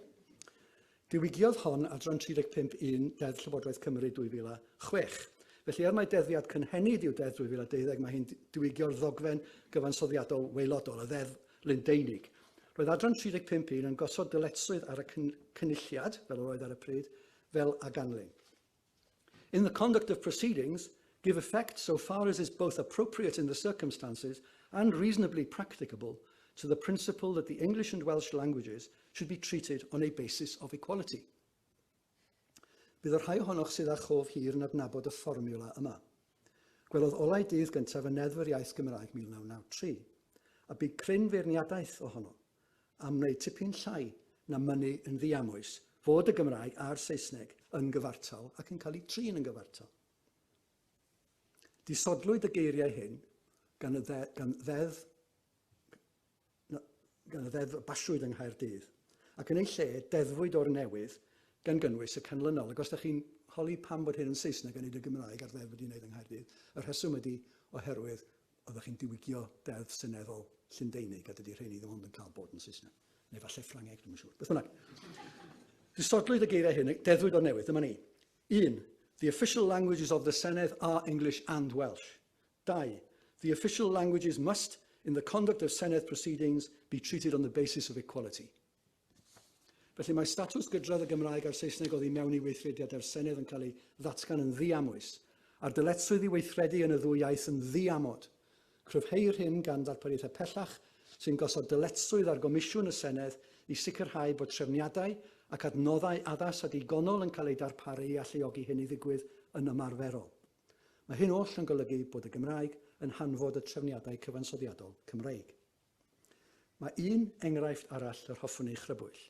Diwygiodd hon adran 35 un Deddf Llywodraeth Cymru 2006. Felly, er mai deddfiad cynhenid yw Deddf 2012, mae hi'n diwygio'r ddogfen gyfansoddiadol waelodol, y Ddeddf Lundeinig. Roedd adran 35 un yn gosod dyletswydd ar y cynulliad, fel yr oedd ar y pryd, fel a ganlyn. In the conduct of proceedings, give effect so far as is both appropriate in the circumstances and reasonably practicable to the principle that the English and Welsh languages should be treated on a basis of equality. Bydd y rhai ohonoch sydd â chof hir yn adnabod y fformiwla yma. Gwelodd olau dydd gyntaf y Neddf yr Iaith Gymraeg 1993, a bu cryn feirniadaeth ohono. am wneud tipyn llai na mynnu yn ddiamwys fod y Gymraeg a'r Saesneg yn gyfartal ac yn cael eu trin yn gyfartal. Disodlwyd y geiriau hyn gan y, dde, gan ddeddf gan y ddeddf y basiwyd yng Nghaerdydd, ac yn ei lle deddfwyd o'r newydd gan gynnwys y canlynol. Ac os ydych chi'n holi pam bod hyn yn Saesneg yn ei y Gymraeg a'r ddeddf wedi'i wneud yng Nghaerdydd, y rheswm ydy oherwydd Oeddech chi'n diwygio Deddf Seneddol Llundeinig, a dydy rheiny ddim ond yn cael bod yn Saesneg. Neu falle Ffrangeg, dwi'n yn siŵr. Beth bynnag. Disodlwyd y geiriau hyn, deddfwyd o'r newydd, dyma ni. 1. The official languages of the Senedd are English and Welsh. 2. The official languages must, in the conduct of Senedd proceedings, be treated on the basis of equality. Felly mae statws gydradd y Gymraeg a'r Saesneg oddi mewn i weithrediad â'r Senedd yn cael ei ddatgan yn ddiamwys, a'r dyletswydd i weithredu yn y ddwy iaith yn ddiamod. Cryfheir hyn gan ddarpariaethau pellach sy'n gosod dyletswydd ar Gomisiwn y Senedd i sicrhau bod trefniadau ac adnoddau addas a digonol yn cael eu darparu i alluogi hyn i ddigwydd yn ymarferol. Mae hyn oll yn golygu bod y Gymraeg yn hanfod y trefniadau cyfansoddiadol Cymreig. Mae un enghraifft arall yr hoffwn ei chrybwyll,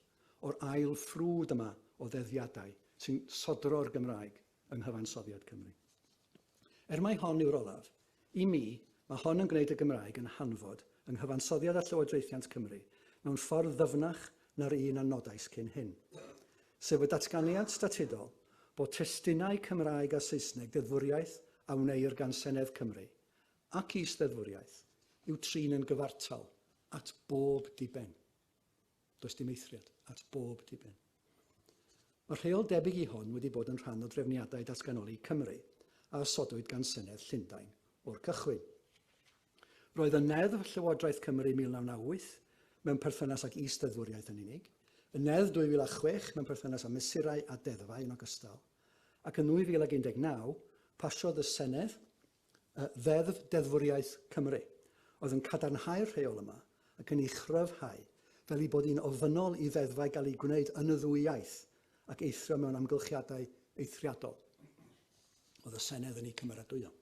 o'r ail ffrwd yma o ddeddiadau sy'n sodro'r Gymraeg yng nghyfansoddiad Cymru. Er mai hon yw'r olaf, i mi, mae hon yn gwneud y Gymraeg yn hanfod yng nghyfansoddiad â llywodraethiant Cymru mewn ffordd ddyfnach na'r un a nodais cyn hyn, sef y datganiad statudol bod testunau Cymraeg a Saesneg deddfwriaeth a wneir gan Senedd Cymru Ac i ysteddfwriaeth yw trin yn gyfartal at bob diben. Does dim eithriad, at bob diben. Mae rheol debyg i hon wedi bod yn rhan o drefniadau datganoli Cymru a osodwyd gan Senedd Llundain o'r cychwyn. Roedd y Neddf Llywodraeth Cymru 1998 mewn perthynas ag is-deddfwriaeth yn unig, y Neddf 2006 mewn perthynas â mesurau a deddfau yn ogystal, ac yn 2019 pasiodd y Senedd y Ddeddf Deddfwriaeth Cymru, oedd yn cadarnhau'r rheol yma ac yn ei chryfhau fel ei bod hi'n ofynnol i ddeddfau gael eu gwneud yn y ddwy iaith ac eithrio mewn amgylchiadau eithriadol. Oedd y Senedd yn ei cymeradwyo.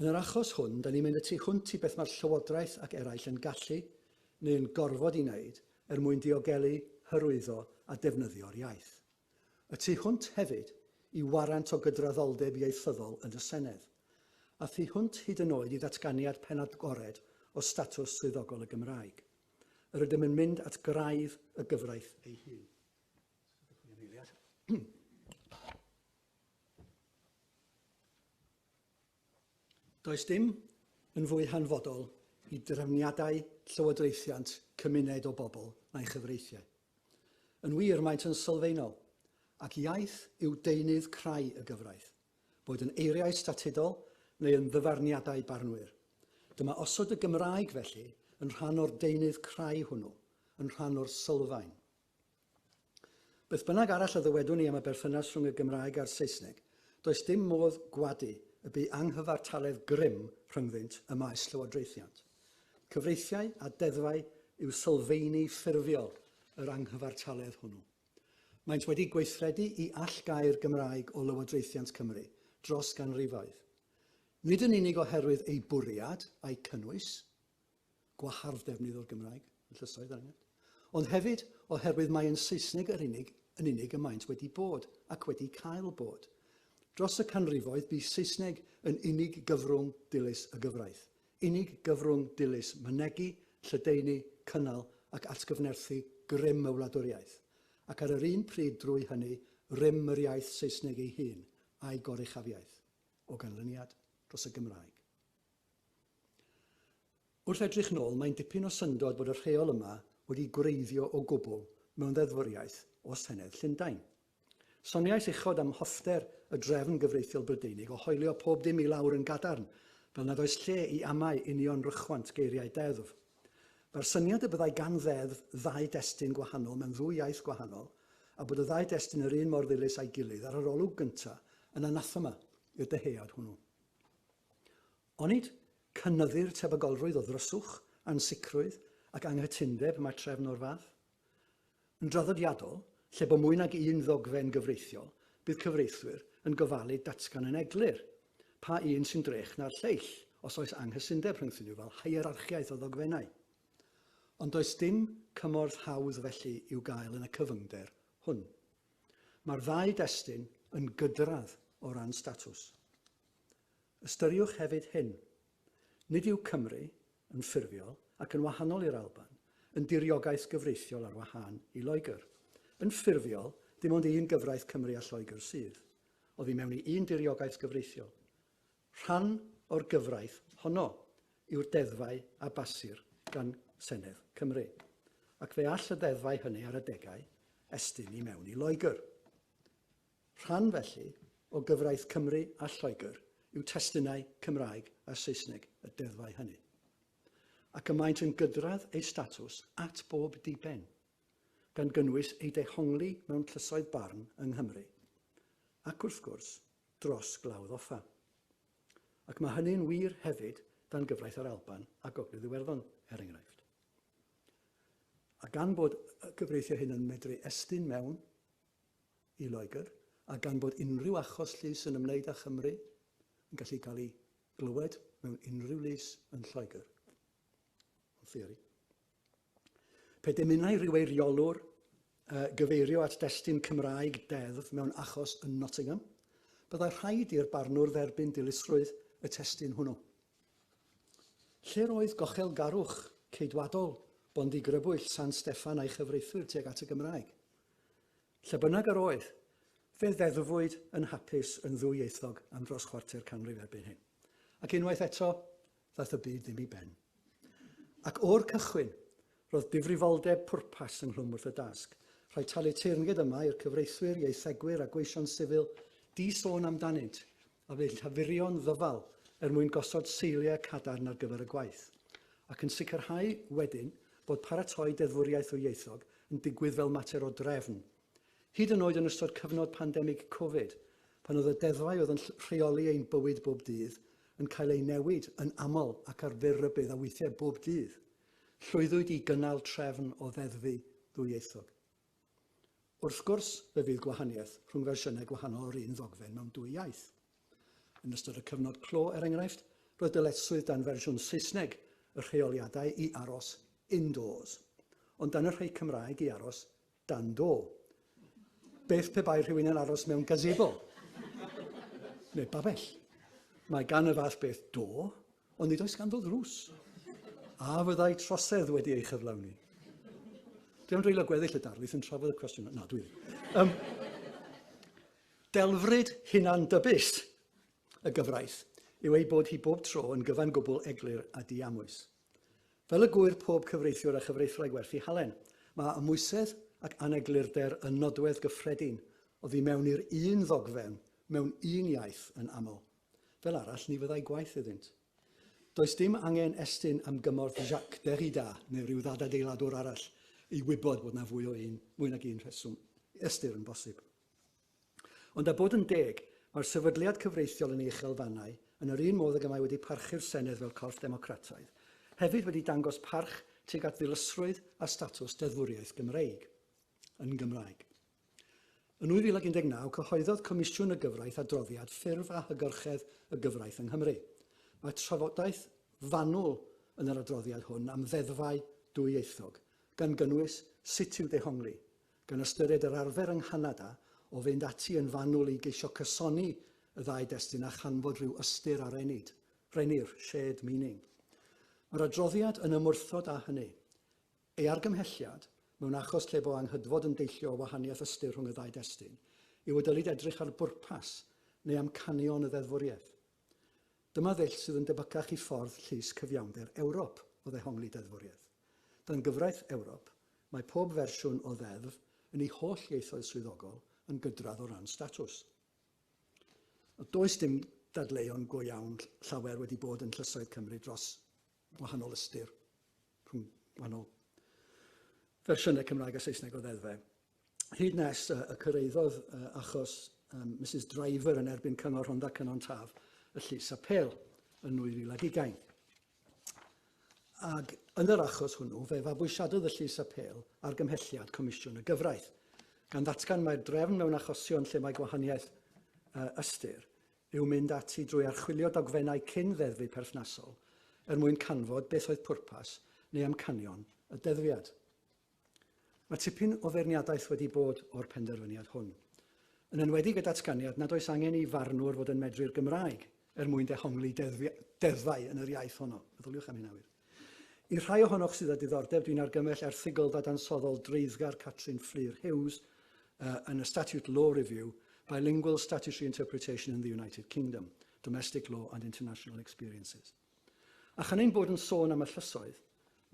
Yn yr achos hwn, da ni'n mynd y tu hwnt i beth mae'r Llywodraeth ac eraill yn gallu neu yn gorfod i wneud er mwyn diogelu, hyrwyddo a defnyddio'r iaith. Y tu hwnt hefyd i warant o gydraddoldeb ieithyddol yn y Senedd, a thu hwnt hyd yn oed i ddatganiad pen agored o statws swyddogol y Gymraeg. Yr ydym yn mynd at graidd y gyfraith ei hun. Does dim yn fwy hanfodol i drefniadau llywodraethiant cymuned o bobl na'i chyfreithiau. Yn wir, maent yn sylfaenol, ac iaith yw deunydd crai y gyfraith, boed yn eiriau statudol neu yn ddyfarniadau barnwyr. Dyma osod y Gymraeg, felly, yn rhan o'r deunydd crai hwnnw, yn rhan o'r sylfaen. Beth bynnag arall a ddywedwn ni am y berthynas rhwng y Gymraeg a'r Saesneg, does dim modd gwadu y bu anghyfartaledd grym rhyngddynt ym maes llywodraethiant. Cyfreithiau a deddfau yw sylfeini ffurfiol yr anghyfartaledd hwnnw. Maent wedi gweithredu i allgau'r Gymraeg o lywodraethiant Cymru dros ganrifoedd, nid yn unig oherwydd eu bwriad a'u cynnwys, gwahardd defnydd o'r Gymraeg yn llysoedd, er enghraifft, ond hefyd oherwydd mai yn Saesneg yr unig yn unig y maent wedi bod ac wedi cael bod. Dros y canrifoedd, bu Saesneg yn unig gyfrwng dilys y gyfraith. Unig gyfrwng dilys mynegi, lledaenu, cynnal ac atgyfnerthu grym y wladwriaeth, ac ar yr un pryd drwy hynny rym yr iaith Saesneg ei hun a'i goruchafiaeth o ganlyniad dros y Gymraeg. Wrth edrych nôl, mae'n dipyn o syndod bod y rheol yma wedi gwreiddio o gwbl mewn ddeddfwriaeth o Senedd Llundain. Soniais uchod am hoffter y drefn gyfreithiol Brydeinig o hoelio pob dim i lawr yn gadarn, fel nad oes lle i amau union rychwant geiriau deddf. Mae'r syniad y byddai gan ddeddf ddau destun gwahanol mewn ddwy iaith gwahanol, a bod y ddau destun yr un mor ddilys â'i gilydd ar yr olwg gyntaf, yn anathema i'r dyhead hwnnw. Onid cynyddir tebygolrwydd o ddryswch, ansicrwydd ac anghytundeb mae trefn o'r fath? Yn draddodiadol, lle bo mwy nag un ddogfen gyfreithiol, bydd cyfreithwyr yn gofalu datgan yn eglur pa un sy'n drech na'r lleill, os oes anghysundeb rhyngthyn nhw fel hierarchiaeth o ddogfennau. Ond does dim cymorth hawdd felly i'w gael yn y cyfyngder hwn. Mae'r ddau destun yn gydradd o ran statws. Ystyriwch hefyd hyn, Nid yw Cymru, yn ffurfiol, ac yn wahanol i'r Alban, yn diriogaeth gyfreithiol ar wahân i Loegr. Yn ffurfiol, dim ond un gyfraith Cymru a Lloegr sydd, oddi mewn i un diriogaeth gyfreithiol. Rhan o'r gyfraith honno yw'r deddfau a basir gan Senedd Cymru, ac fe all y ddeddfau hynny ar adegau estyn i mewn i Loegr. Rhan, felly, o gyfraith Cymru a Lloegr yw testunau Cymraeg a Saesneg y deddfau hynny. Ac y maent yn gydradd eu statws at bob diben, gan gynnwys eu dehongli mewn llysoedd barn yng Nghymru, ac, wrth gwrs, dros Glawdd Offa. Ac mae hynny'n wir hefyd dan gyfraith yr Alban a Gogledd Iwerddon, er enghraifft. A gan bod y cyfreithiau hyn yn medru estyn mewn i Loegr, a gan bod unrhyw achos llys yn ymwneud â Chymru yn gallu cael ei glywed mewn unrhyw lys yn Lloegr. Yn theori. Pe dymunai rhyw eiriolwr uh, gyfeirio at destun Cymraeg deddf mewn achos yn Nottingham, byddai rhaid i'r barnwr dderbyn dilysrwydd y testun hwnnw. Lle'r oedd gochel garwch ceidwadol Bondi Grybwyll San Steffan a'i chyfreithwyr tuag at y Gymraeg? Lle bynnag yr oedd, fe ddeddfwyd yn hapus yn ddwyieithog am dros chwarter canrif erbyn hyn. Ac unwaith eto, ddaeth y byd ddim i ben. Ac o'r cychwyn, roedd difrifoldeb pwrpas ynghlwm wrth y dasg, rhoi talu teyrnged yma i'r cyfreithwyr, ieithegwyr a gweision sifil di-sôn amdanynt, a fydd llafurio'n ddyfal er mwyn gosod seiliau cadarn ar gyfer y gwaith, ac yn sicrhau wedyn bod paratoi deddfwriaeth ddwyieithog yn digwydd fel mater o drefn, hyd yn oed yn ystod cyfnod pandemig Covid, pan oedd y deddfau oedd yn rheoli ein bywyd bob dydd yn cael eu newid yn aml ac ar fyr rybudd a weithiau bob dydd, llwyddwyd i gynnal trefn o ddeddfu ddwyieithog. Wrth gwrs, fe fydd gwahaniaeth rhwng fersiynau gwahanol o'r un ddogfen mewn dwy iaith. Yn ystod y cyfnod clo, er enghraifft, roedd dyletswydd dan fersiwn Saesneg y rheoliadau i aros indoors, ond dan y rhai Cymraeg i aros dan do. Beth pe bai rhywun yn aros mewn gazebo? Neu babell? Mae gan y fath beth do, Ond nid oes ganddo ddrws. A fyddai trosedd wedi ei chyflawni? Dwi am dreulio gweddill y darlith yn trafod y cwestiwn. Na, dwi ddim. Um, delfryd hunan dybus y gyfraith yw ei bod hi bob tro yn gyfan gwbl eglur a diamwys. Fel y gwyr pob cyfreithiwr a chyfreithlai gwerthu halen, mae amwysedd ac aneglurder yn nodwedd gyffredin o ddi mewn i'r un ddogfen mewn un iaith yn aml. Fel arall, ni fyddai gwaith iddynt. Does dim angen estyn am gymorth Jacques Derrida neu ryw ddadadeiladwr arall i wybod bod na fwy o un, mwy nag un rheswm i ystyr yn bosib. Ond a bod yn deg, mae'r sefydliad cyfreithiol yn ei uchelfannau, yn yr un modd ag y mae wedi parchu'r Senedd fel corff democrataidd, hefyd wedi dangos parch tuag at ddilysrwydd a statws deddfwriaeth Gymreig, yn Gymraeg. Yn 2019, cyhoeddodd Comisiwn y Gyfraith adroddiad Ffurf a Hygyrchedd y Gyfraith yng Nghymru. Mae trafodaeth fanwl yn yr adroddiad hwn am ddeddfau dwyieithog, gan gynnwys sut i'w dehongli, gan ystyried yr arfer yng Nghanada o fynd ati yn fanwl i geisio cysoni y ddau destun a chanfod rhyw ystyr ar enid, rennir, shared meaning. Mae'r adroddiad yn ymwrthod â hynny. Ei argymhelliad, mewn achos lle bo anghydfod yn deillio o wahaniaeth ystyr rhwng y ddau destun, yw y dylid edrych ar bwrpas neu amcanion y ddeddfwriaeth. Dyma ddull sydd yn debycach i ffordd llys cyfiawnder Ewrop o ddehongli deddfwriaeth. Dan gyfraith Ewrop, mae pob fersiwn o ddeddf, yn ei holl ieithoedd swyddogol, yn gydradd o ran statws. Does dim dadleuon go iawn llawer wedi bod yn llysoedd Cymru dros gwahanol ystyr rhwng gwahanol fersiynau Cymraeg a Saesneg o ddeddfe. Hyd nes y cyrraeddodd achos Mrs Driver yn erbyn Cyngor Rhondda Cynon Taf y Llys Apêl yn 2020. Ac yn yr achos hwnnw, fe fabwysiadodd y Llys Apêl ar gymhelliad Comisiwn y Gyfraith, gan ddatgan mai'r drefn mewn achosion lle mae gwahaniaeth ystyr yw mynd ati drwy archwilio dogfennau cyn ddeddfu perthnasol er mwyn canfod beth oedd pwrpas neu amcanion y deddfiad. Mae tipyn o feirniadaeth wedi bod o'r penderfyniad hwn, yn enwedig y datganiad nad oes angen i farnwr fod yn medru'r Gymraeg er mwyn dehongli deddfau yn yr iaith honno. Meddyliwch am hynna wir. I'r rhai ohonoch sydd â diddordeb, dwi'n argymell erthygl ddadansoddol dreiddgar Catrin Fflur Hughes uh, yn y Statute Law Review, Bilingual Statutory Interpretation in the United Kingdom, Domestic Law and International Experiences. A chan ein bod yn sôn am y llysoedd,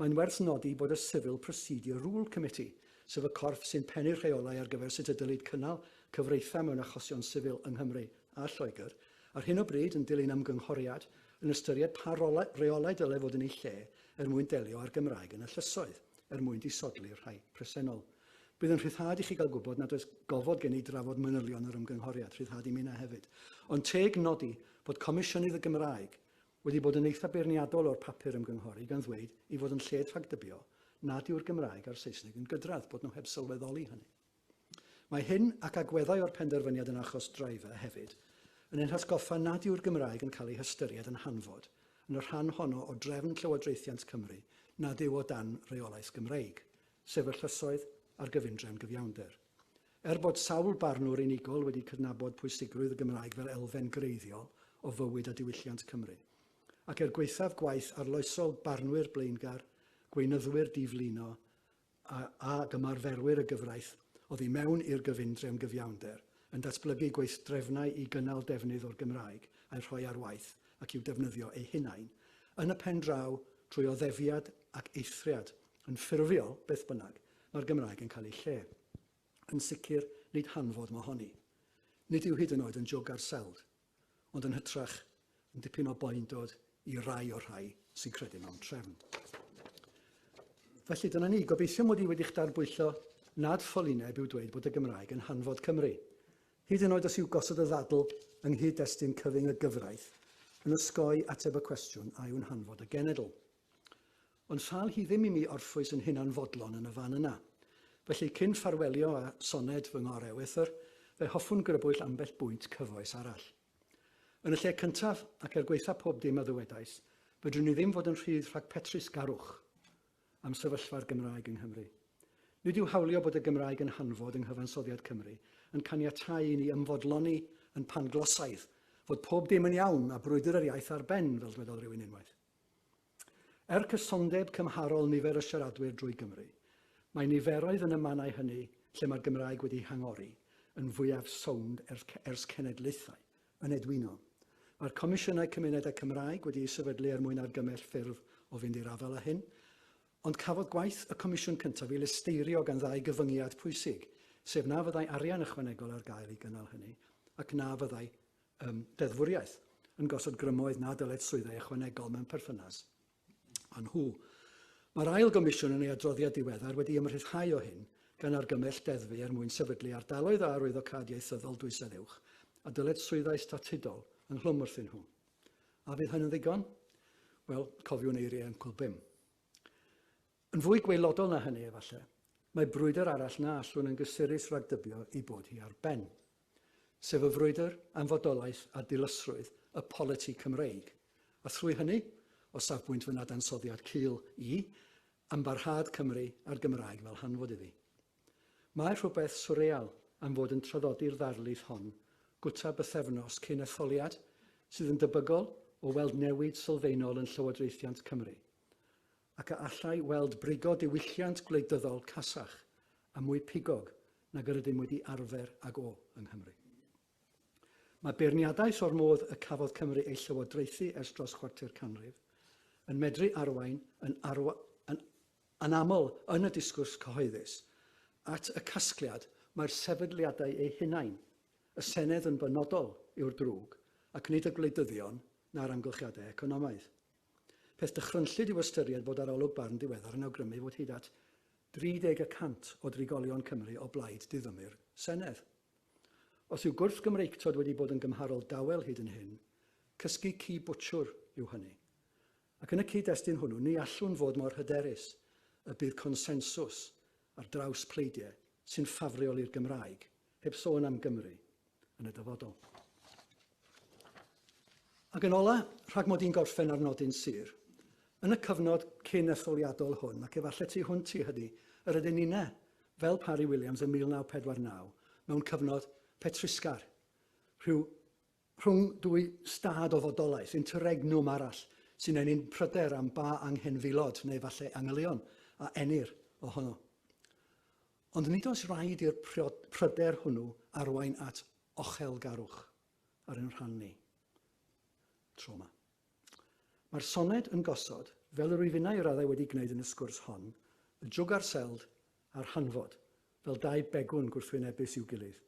mae'n werth nodi bod y Civil Procedure Rule Committee, sef y corff sy'n pennu'r rheolau ar gyfer sut y dylid cynnal cyfreitha mewn achosion sifil yng Nghymru a Lloegr, ar hyn o bryd yn dilyn ymgynghoriad yn ystyried pa rolau, reolau dylai fod yn eu lle er mwyn delio â'r Gymraeg yn y llysoedd, er mwyn disodli'r rhai presennol. Bydd yn rhyddhad i chi gael gwybod nad oes gofod gen i drafod manylion yr ymgynghoriad, rhyddhad i minnau hefyd. Ond teg nodi bod Comisiynydd y Gymraeg wedi bod yn eitha beirniadol o'r papur ymgynghori gan ddweud ei fod yn lled rhagdybio nad yw'r Gymraeg a'r Saesneg yn gydradd, bod nhw heb sylweddoli hynny. Mae hyn, ac agweddau o'r penderfyniad yn achos Driver hefyd, yn ein hatgoffa nad yw'r Gymraeg yn cael ei hystyried yn hanfod yn y rhan honno o drefn llywodraethiant Cymru nad yw o dan reolaeth Gymreig, sef y llysoedd a'r gyfundrefn gyfiawnder. Er bod sawl barnwr unigol wedi cydnabod pwysigrwydd y Gymraeg fel elfen greiddiol o fywyd a diwylliant Cymru, ac er gwaethaf gwaith arloesol barnwyr blaengar, gweinyddwyr diflino, a gymarferwyr y gyfraith oddi mewn i'r gyfundrefn gyfiawnder, yn datblygu gweithdrefnau i gynnal defnydd o'r Gymraeg a'i rhoi ar waith ac i'w defnyddio eu hunain, yn y pen draw, trwy oddefiad ac eithriad. Yn ffurfiol, beth bynnag, mae'r Gymraeg yn cael ei lle. Yn sicr, nid hanfod mohoni. Nid yw hyd yn oed yn jwg ar seld. ond yn hytrach yn dipyn o boendod i rai o'r rhai sy'n credu mewn trefn. Felly dyna ni, gobeithio mod i wedi'ch darbwyllo nad ffolineb yw dweud bod y Gymraeg yn hanfod Cymru. Hyd yn oed os yw gosod y ddadl yng nghyd-destun cyfyng y gyfraith yn osgoi ateb y cwestiwn a yw'n hanfod y genedl. Ond sal hi ddim i mi orffwys yn hunan fodlon yn y fan yna. Felly cyn ffarwelio â soned fy ngor ewythr, fe hoffwn grybwyll ambell bwynt cyfoes arall. Yn y lle cyntaf, ac er gwaetha pob dim a ddywedais, fedrwn i ddim fod yn rhydd rhag petrus garwch am sefyllfa'r Gymraeg yng Nghymru. Nid yw hawlio bod y Gymraeg yn hanfod yng nghyfansoddiad Cymru yn caniatáu i ni ymfodloni yn panglosaidd fod pob dim yn iawn a brwydr yr iaith ar ben, fel dwedodd rywun unwaith. Er cysondeb cymharol nifer y siaradwyr drwy Gymru, mae niferoedd yn y mannau hynny lle mae'r Gymraeg wedi hangori yn fwyaf sownd ers cenedlaethau, yn edwyno. Mae'r Comisiynau Cymunedau Cymraeg wedi eu sefydlu er mwyn argymell ffyrdd o fynd i'r afael â hyn, ond cafodd gwaith y Comisiwn cyntaf ei lesteirio gan ddau gyfyngiad pwysig, sef na fyddai arian ychwanegol ar gael i gynnal hynny, ac na fyddai ym deddfwriaeth, yn gosod grymoedd na dyled swyddau ychwanegol mewn perthynas â nhw. Mae'r ail gomisiwn yn ei adroddiad diweddar wedi ymrhyddhau o hyn, gan argymell deddfu er mwyn sefydlu ardaloedd a arwyddo cad ieithyddol dwysedd uwch, a dyled swyddau statudol ynghlwm wrthyn nhw. A fydd hyn yn ddigon? Wel, cofiwn eiriau ymchwil bum. Yn fwy gwaelodol na hynny, efallai, mae brwydr arall na allwn yn gysurus ragdybio ei bod hi ar ben, sef y frwydr am fodolaeth a dilysrwydd y politi Cymreig, a thrwy hynny, o safbwynt fy nadansoddiad cul i, am barhad Cymru a'r Gymraeg fel hanfod iddi. Mae rhywbeth swreal am fod yn traddodi'r ddarlith hon gwta bythefnos cyn etholiad sydd yn debygol o weld newid sylfaenol yn llywodraethiant Cymru. ac a allai weld brigo diwylliant gwleidyddol casach a mwy pigog nag yr ydym wedi arfer ag o yng Nghymru. Mae beirniadaeth o'r modd y cafodd Cymru ei llywodraethu ers dros chwarter canrif yn medru arwain yn, arwa, yn anaml yn y disgwrs cyhoeddus at y casgliad mae'r sefydliadau eu hunain, y Senedd yn benodol, yw'r drwg, ac nid y gwleidyddion na'r amgylchiadau economaidd. Peth dychrynllyd yw ystyried bod arolwg Barn diweddar yn awgrymu fod hyd at 30 y cant o drigolion Cymru o blaid diddymu'r Senedd. Os yw gwrthgymreictod wedi bod yn gymharol dawel hyd yn hyn, cysgu ci bwtsiwr yw hynny. Ac yn y cyd-destun hwnnw, ni allwn fod mor hyderus y bydd consensws ar draws pleidiau sy'n ffafriol i'r Gymraeg Heb sôn am Gymru yn y dyfodol. Ac yn ola, rhag mod i'n gorffen ar nodyn sur, yn y cyfnod cyn etholiadol hwn, ac efallai tu hwnt i hynny, yr ydyn ninne, fel Parry Williams yn 1949, mewn cyfnod petrusgar, rhyw rhwng dwy stad o fodolaeth, interregnum arall, sy'n enyn pryder am ba anghenfilod, neu falle angylion, a enir ohono. Ond nid oes raid i'r pryder hwnnw arwain at ochelgarwch ar ein rhan ni. Trauma. Mae'r soned yn gosod, fel yr wyf innau i raddau wedi gwneud yn y sgwrs hon, y jwg a'r seld a'r hanfod, fel dau begwn gwrthwynebus i'w gilydd.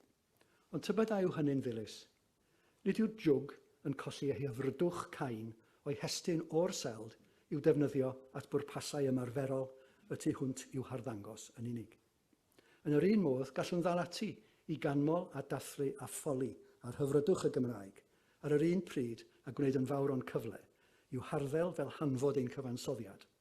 Ond tybed a yw hynny'n ddilys? Nid yw'r jwg yn colli ei hyfrydwch cain o'i hestyn o'r seld i'w defnyddio at bwrpasau ymarferol y tu hwnt i'w harddangos yn unig. Yn yr un modd, gallwn ddal ati i ganmol a dathlu a ffoli ar hyfrydwch y Gymraeg ar yr un pryd a gwneud yn fawr o'n cyfle i'w harddel fel hanfod ein cyfansoddiad,